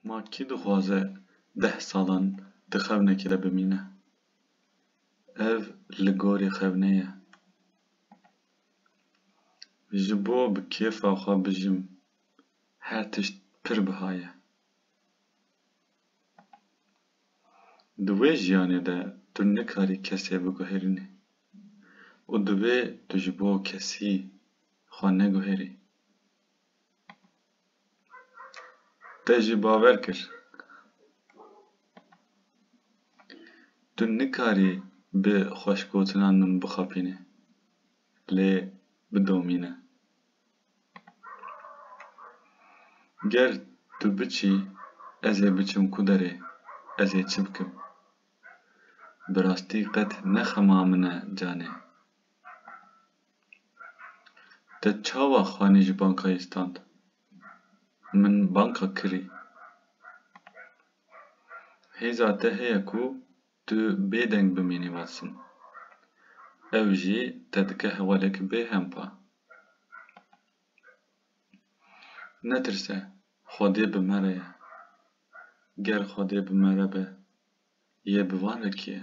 Ma kî dixwaze deh salan di xewnekê de bimîne? Ev li gorî xewnê ye. Ji bo bi kêfa xwe bijim her tişt pir biha ye. Di wê jiyanê de tu nikarî kesê biguherînî û divê tu ji bo kesî xwe neguherî. Te jî bawer kir. Tu nikarî bi xweşgotinan min bixapînî. Lê bidomîne. Ger tu biçî ez ê biçim ku derê? Ez ê çi bikim? Bi rastî qet ne xema min e canê. Te çawa xanê ji bankayê stand? Min banka kirî. Hêza te heye ku tu bêdeng bimînî Wasim. Ew jî te dike hewaleke bêhempa. Netirse, Xwedê bi me re ye. Ger Xwedê bi me re be, yê bi wan re kî ye?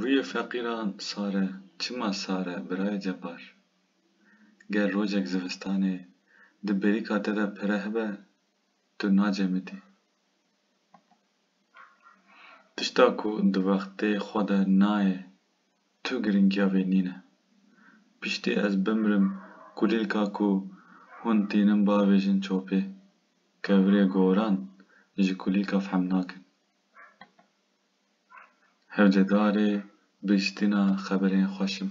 Rûyê feqîran sar e. Çima sar e birayê Cebar? Ger rojek zivistanê di bêrîka te de pere hebe tu nacemidî. Tişta ku di wextê xwe de nayê tu girîngiya vê nîne. Piştî ez bimirim kulîlka ku hûn tînin bavêjin çopê. Kevirê goran ji kulîlka fehm nakin. Hewcedarê bihiştina xeberên xweş im.